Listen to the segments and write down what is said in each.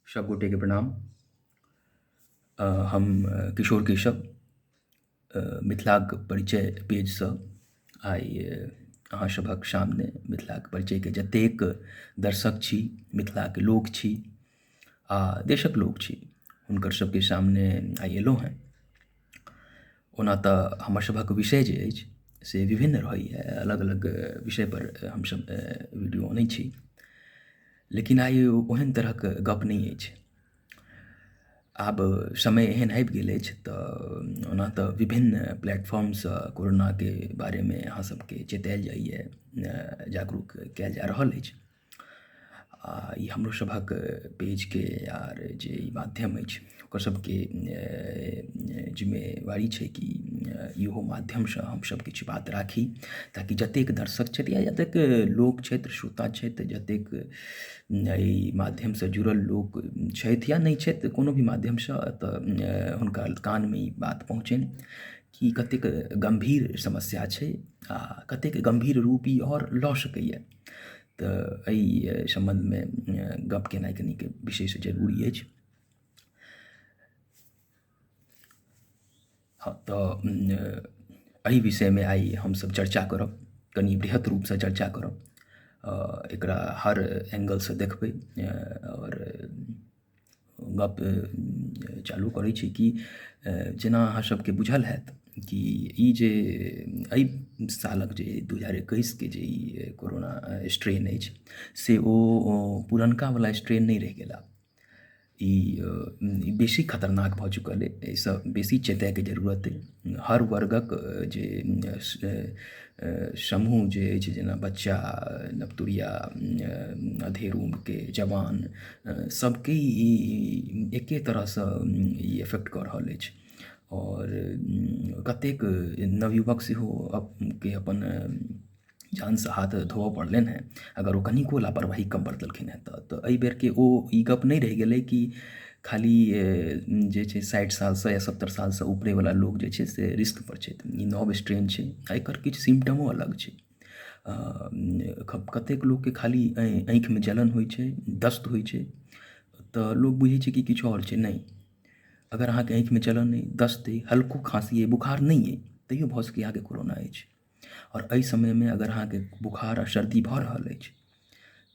सब गोटे के प्रणाम आ, हम किशोर केशव मिथिलाक परिचय पेजसँ आइ अहाँ सभक सामने मिथिलाक परिचयके जतेक दर्शक छी मिथिलाके लोक छी आ देशक लोक छी हुनकर सबके सामने आइ एलहुँ हँ ओना तऽ हमर सभक विषय जे अछि से विभिन्न रहैया अलग अलग विषय पर हमसब वीडियो अनैत छी लेकिन आइ ओहन तरहक गप नहि अछि आब समय एहन आबि गेल अछि तऽ ओना तऽ विभिन्न प्लेटफॉर्मसँ कोरोनाके बारेमे अहाँ सबके चेतायल जाइया जागरूक कयल जा रहल अछि आ ई हमरो सभक पेजके आर जे ई माध्यम अछि ओकर सभके जिम्मेवारी छै कि इहो माध्यमसँ हमसभ किछु बात राखी ताकि जतेक दर्शक छथि या जतेक लोक छथि श्रोता छथि जतेक एहि माध्यमसँ जुड़ल लोक छथि या नहि छथि कोनो भी माध्यमसँ तऽ हुनका कानमे ई बात पहुँचनि कि कतेक गम्भीर समस्या छै आ कतेक गम्भीर रूप ई आओर लऽ सकैए तऽ एहि सम्बन्धमे गप केनाइ कनिक विशेष जरूरी अछि हँ तऽ एहि विषयमे आइ हमसभ चर्चा करब कनि बृहत रूपसँ चर्चा करब एकरा हर एंगलसँ देखबै आओर गप चालू करै छी कि जेना अहाँ सबके बुझल होयत कि ई जे एहि सालक जे दू हजार एकैस के जे ई कोरोना स्ट्रेन अछि से ओ पुरनका बला स्ट्रेन नहि रहि गेल आब ई बेसी खतरनाक भऽ चुकल अछि एहिसँ बेसी चेतैके जरूरत अछि हर वर्गक जे समूह जे अछि जेना बच्चा नवतुरिया अधेड़ उम्रके जवान सभके ई एके तरहसँ ई इफेक्ट कऽ रहल अछि आओर कतेक नवयुवक सेहो के अपन जानसँ हाथ धोअ पड़लनि हँ अगर ओ कनिको लापरवाही कम बरतलखिन हँ तऽ तऽ एहि बेरके ओ ई गप नहि रहि गेलै कि खाली जे छै साठि सालसँ या सत्तरि सालसँ उपरे बला लोक जे छै से रिस्क पर छथि ई नव स्ट्रेन छै एकर किछु सिम्टमो अलग छै कतेक लोकके खाली आँखिमे जलन होइ छै दस्त होइ छै तऽ लोक बुझै छै कि किछु आओर छै नहि अगर अहाँके आँखिमे जलन अइ दस्त अइ हल्को खाँसी अइ बोखार नहि अइ तैओ भऽ सकैए अहाँके कोरोना अछि आओर एहि समयमे अगर अहाँके बोखार आओर सर्दी भऽ रहल अछि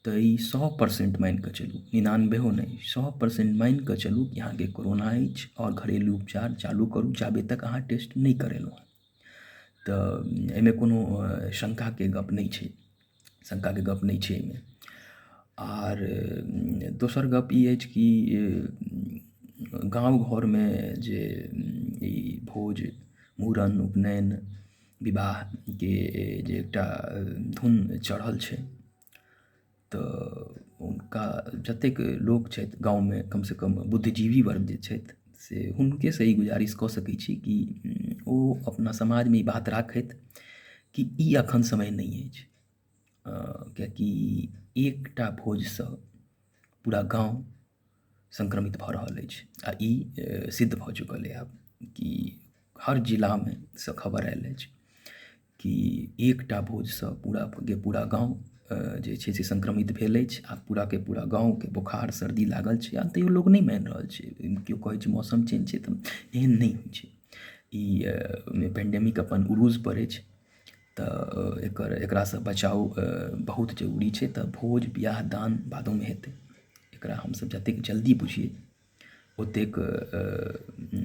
तऽ ई सए परसेंट मानि कऽ चलू निनानबेओ नहि सए परसेंट मानि कऽ चलू कि अहाँके कोरोना अछि आओर घरेलू उपचार चालू करू जाबे तक अहाँ टेस्ट नहि करेलहुँ हेँ तऽ एहिमे कोनो शङ्काके गप्प नहि छै शङ्काके गप्प नहि छै एहिमे आर दोसर गप्प ई अछि कि गाम घरमे जे ई भोज मूड़न उपनयन विवाहके जे एकटा धुन चढ़ल छै तऽ हुनका जतेक लोक छथि गाममे कमसँ कम बुद्धिजीवी वर्ग जे छथि से हुनकेसँ ई गुजारिश कऽ सकै छी कि ओ अपना समाजमे ई बात राखथि कि ई एखन समय नहि अछि किएकि एकटा भोजसँ पूरा गाम सङ्क्रमित भऽ रहल अछि आ ई सिद्ध भऽ चुकल अइ आब कि हर जिलामे सँ खबर आयल अछि कि एकटा भोजसँ पूराके पूरा गाम जे छै से सङ्क्रमित भेल अछि आ पूराके पूरा गामके बोखार सर्दी लागल छै आ तैयो लोक नहि मानि रहल छै कियो कहैत छै मौसम चेंज छै तऽ एहन नहि होइत छै ई पेंडेमिक अपन उरूजपर अछि तऽ एकर एकरासँ बचाव बहुत जरूरी छै तऽ भोज बिआह दान बादोमे हेतै एकरा हमसब जतेक जल्दी बुझी ओतेक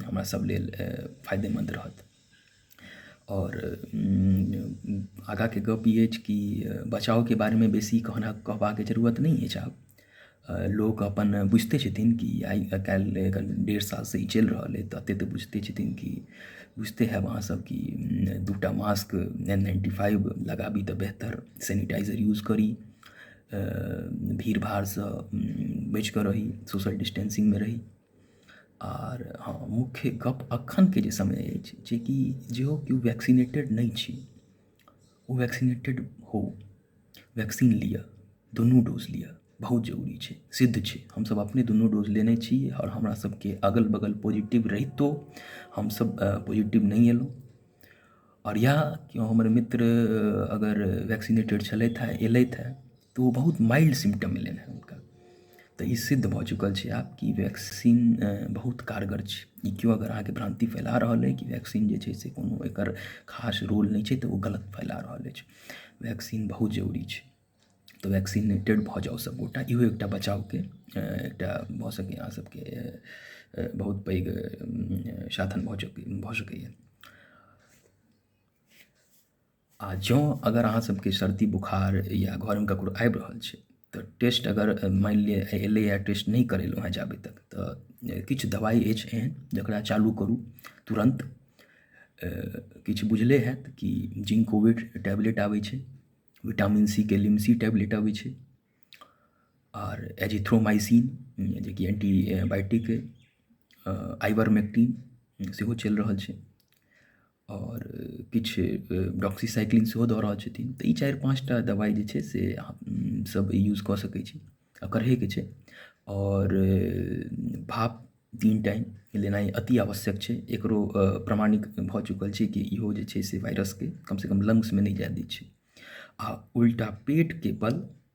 हमरा सब लेल फायदेमन्द रहत आओर आगाँके गप ई अछि कि बचावके बारेमे बेसी कहना कहबाके जरूरत नहि अछि आब लोक अपन बुझिते छथिन कि आइ काल्हि एकर डेढ़ सालसँ ई चलि रहल अइ तऽ एतेक तऽ बुझिते छथिन कि बुझिते हैब अहाँसभ कि दू टा मास्क एन नाइन्टी फाइव लगाबी तऽ बेहतर सेनिटाइजर यूज करी भीड़ भाड़सँ बचि कऽ रही सोशल डिस्टेंसिंगमे रही आर हँ मुख्य गप्प एखनके जे समय अछि जेकि जेहो कियो वैक्सीनेटेड नहि छी ओ वैक्सीनेटेड हो वैक्सीन लिअ दुनू डोज लिअ बहुत जरूरी छै सिद्ध छै हमसभ अपने दुनू डोज लेने छी आओर हमरासभके अगल बगल पॉजिटिव रहितो हमसभ पॉजिटिव नहि अयलहुँ आओर इएह केओ हमर मित्र अगर वैक्सीनेटेड छलथि हे अयलथि हे तऽ ओ बहुत माइल्ड सिम्टम एलनि हँ हुनका तऽ ई सिद्ध भऽ चुकल छै आब कि वैक्सीन बहुत कारगर छै ई केओ अगर अहाँके भ्रान्ति फैला रहल अइ कि वैक्सीन जे छै से कोनो एकर खास रोल नहि छै तऽ ओ गलत फैला रहल अछि वैक्सीन बहुत जरूरी छै तऽ वैक्सीनेटेड भऽ जाउ सभगोटा इहो एकटा बचावके एकटा भऽ सकैए अहाँ सभके बहुत पैघ साधन भऽ सकै भऽ सकैए आओर जँ अगर अहाँ सबके सर्दी बोखार या घरमे ककरो आबि रहल छै तऽ टेस्ट अगर मानि लिऽ अयलै आओर टेस्ट नहि करेलहुँ हँ जाबे तक तऽ किछु दबाइ अछि एहन जकरा चालू करू तुरन्त किछु बुझले होयत कि जिंकोविट टैबलेट आबै छै विटामिन सी के लिमसी टैबलेट अबै छै आओर एजिथ्रोमाइसिन जे कि एंटी बायोटिक अइ आइवरमेक्टिन सेहो चलि रहल छै आओर किछु डॉक्सीसाइक्लिन सेहो दऽ रहल छथिन तऽ ई चारि पाँच टा दवाइ जे छै से अहाँ सब यूज कऽ सकै छी आ करहे के छै आओर भाप तीन टाइम लेनाइ अति आवश्यक छै एकरो प्रमाणित भऽ चुकल छै कि इहो जे छै से वायरसके कमसँ कम लंग्समे नहि जाए दै छै आ उल्टा पेटके बल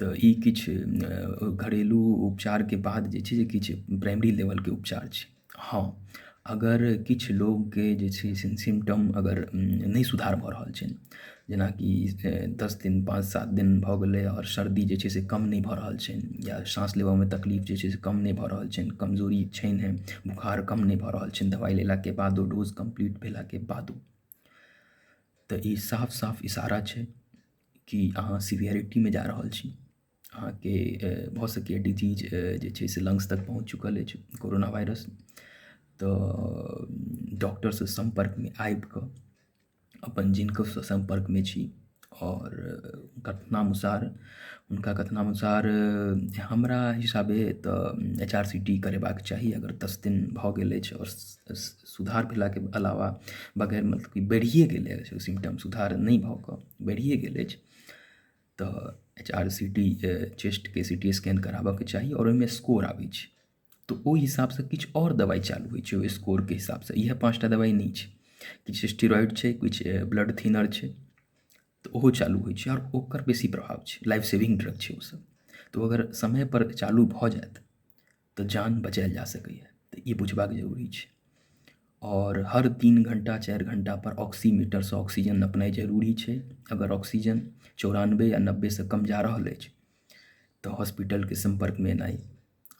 तऽ ई किछु घरेलू उपचारके बाद जे छै से किछु प्राइमरी लेवलके उपचार छै हँ अगर किछु लोगके जे छै से सिम्टम अगर नहि सुधार भऽ रहल छै जेनाकि दस दिन पाँच सात दिन भऽ गेलै आओर सर्दी जे छै से कम नहि भऽ रहल छै या साँस लेबऽमे तकलीफ जे छै से कम नहि भऽ रहल छनि कमजोरी छनि बोखार कम नहि भऽ रहल छनि दबाइ लेलाके बादो डोज कम्प्लीट भेलाके बादो तऽ ई साफ साफ इशारा छै कि अहाँ सिवियरिटीमे जा रहल छी अहाँके भऽ सकैए डिजीज जे छै से लंग्स तक पहुँच चुकल अछि कोरोना वायरस तऽ डॉक्टरसँ सम्पर्कमे आबिकऽ अपन जिनको सम्पर्कमे छी आओर कथनानुसार हुनका कथनानुसार हमरा हिसाबे तऽ एच आर सी टी करेबाक चाही अगर दस दिन भऽ गेल अछि आओर सुधार भेलाके अलावा बगैर मतलब कि बढ़िए गेलै ओ सिम्टम सुधार नहि भऽ कऽ बढ़िए गेल अछि तऽ एच आर सी टी चेस्टके सी टी स्कैन कराबऽके चाही आओर ओहिमे स्कोर आबै छै तऽ ओहि हिसाबसँ किछु आओर दवाइ चालू होइ छै ओहि स्कोरके हिसाबसँ इएह पाँच टा दवाइ नहि छै किछु स्टेरॉइड छै किछु ब्लड थिनर छै तऽ ओहो चालू होइ छै आओर ओकर बेसी प्रभाव छै लाइफ सेविंग ड्रग छै ओसभ तऽ ओ अगर समयपर चालू भऽ जायत तऽ जान बचायल जा सकैए तऽ ई बुझबाक जरूरी छै आओर हर तीन घण्टा चारि घण्टापर ऑक्सीमीटरसँ ऑक्सीजन नपनाइ जरूरी छै अगर ऑक्सीजन चौरानबे या नब्बेसँ कम जा रहल अछि तऽ हॉस्पिटलके सम्पर्कमे एनाइ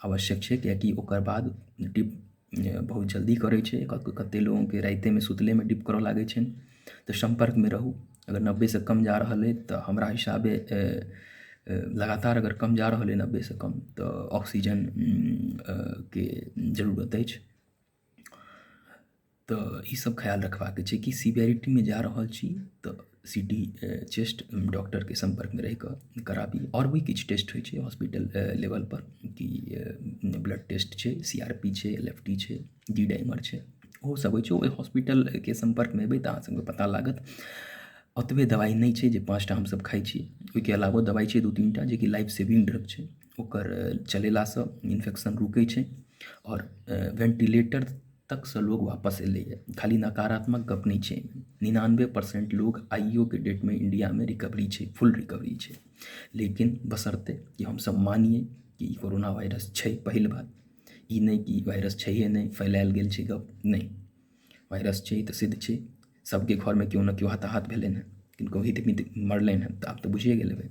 आवश्यक छै किएकि ओकर बाद डिप बहुत जल्दी करै छै कतेक लोकके रातिएमे सुतलेमे डिप करय लागै छनि तऽ सम्पर्कमे रहू अगर नब्बेसँ कम जा रहल अइ तऽ हमरा हिसाबे लगातार अगर कम जा रहल अइ नब्बेसँ कम तऽ ऑक्सीजन के जरूरत अछि तऽ ईसब खयाल रखबाके छै कि सिवेरिटीमे जा रहल छी तऽ सी टी चेस्ट डॉक्टरके सम्पर्कमे रहिकऽ कराबी आओर भी किछु टेस्ट होइ छै हॉस्पिटल लेवलपर कि ब्लड टेस्ट छै सी आर पी छै एल एफ टी छै जी डी एम आर छै ओहो सब होइ छै ओइ हॉस्पिटलके सम्पर्कमे एबै तऽ अहाँ सबके पता लागत ओतबे दबाइ नहि छै जे पाँच टा हमसब खाइ छी ओइके अलावो दबाइ छै दू तीन टा जे कि लाइफ सेविंग ड्रग छै ओकर चलेलासँ इन्फेक्शन रुकै छै आओर वेन्टिलेटर तकसँ लोग वापस अयलैये खाली नकारात्मक गप नहि छै निनानबे परसेन्ट लोग आइयोके डेटमे इण्डियामे रिकवरी छै फुल रिकवरी छै लेकिन बशर्ते कि हमसब मानियै कि ई कोरोना वायरस छै पहिल बात ई नहि कि वाइरस छैहे नहि फैलायल गेल छै गप नहि वाइरस छै तऽ सिद्ध छै सभके घरमे केओ ने केओ हताहत भेलनि हेँ किनको हित मित मरलनि हेँ तऽ आब तऽ बुझिए गेल हेबै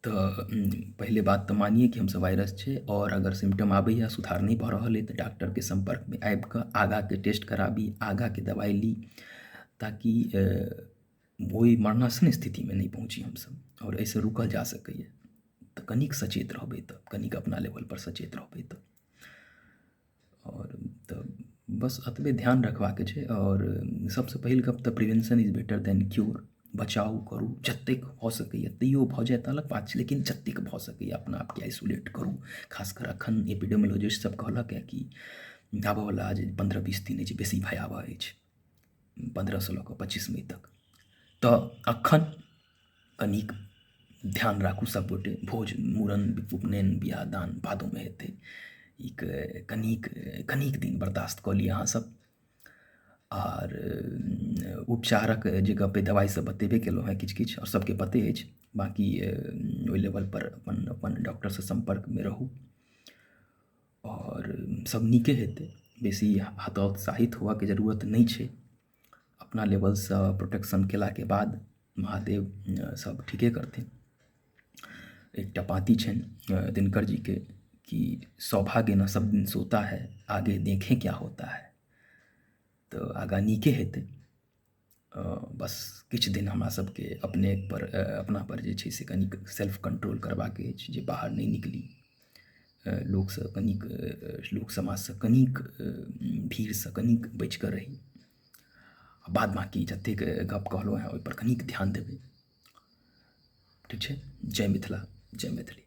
तऽ पहिले बात तऽ मानियै कि हमसभ वाइरस छै आओर अगर सिम्टम आबैए सुधार नहि भऽ रहल अइ तऽ डॉक्टरके सम्पर्कमे आबि कऽ आगाँके टेस्ट कराबी आगाँके दबाइ ली ताकि ओहि मरणासन्न स्थितिमे नहि पहुँची हमसब आओर एहिसँ रुकल जा सकैया तऽ कनीक सचेत रहबै तऽ कनीक अपना लेवल पर सचेत रहबै तऽ आओर तऽ बस एतबे ध्यान रखबाके छै आओर सबसँ पहिल गप तऽ prevention is better than cure बचाउ करू जतेक भऽ सकैया तैयो भऽ जाय तऽ अलग बात छै लेकिन जतेक भऽ सकैया अपना आपके आइसोलेट करू खास कर अखन एपिडेमिलॉजिस्ट सब कहलक हँ कि आबऽ बला जे पन्द्रह बीस दिन अछि बेसी भयावह अछि पन्द्रहसँ लऽ कऽ पच्चीस मइ तक तऽ एखन कनिक ध्यान राखू सभगोटे भोज मूड़न उपनयन बियाह दान बादोमे हेतै ई कनिक कनिक दिन बर्दास्त कऽ लिऽ अहाँसभ आर उपचारक जे गप अइ दबाइ सभ बतेबे केलहुँ हेँ किछु किछु आओर सभके पते अछि बाँकी ओहि लेवलपर अपन अपन डॉक्टरसँ सम्पर्कमे रहू आओर सभ नीके हेतै बेसी हतोत्साहित होयबाक जरूरत नहि छै अपना लेवलसँ प्रोटेक्शन कयलाके बाद महादेव सभ ठीके करथिन एकटा पाँती छनि दिनकर जीके कि सौभाग्य न सभ दिन सोता है आगे देखें क्या होता है तऽ आगाँ नीके हेतै बस किछु दिन हमरा सबके अपने पर अपना पर जे छै से कनिक सेल्फ कंट्रोल करबाके अछि जे बाहर नहि निकली लोकसँ कनिक लोक समाजसँ कनिक भीड़सँ कनिक बचि कऽ रही आ बाद बाँकी जतेक गप कहलहुँ हँ ओहि पर कनिक ध्यान देबै ठीक छै जय मिथिला जय मैथिली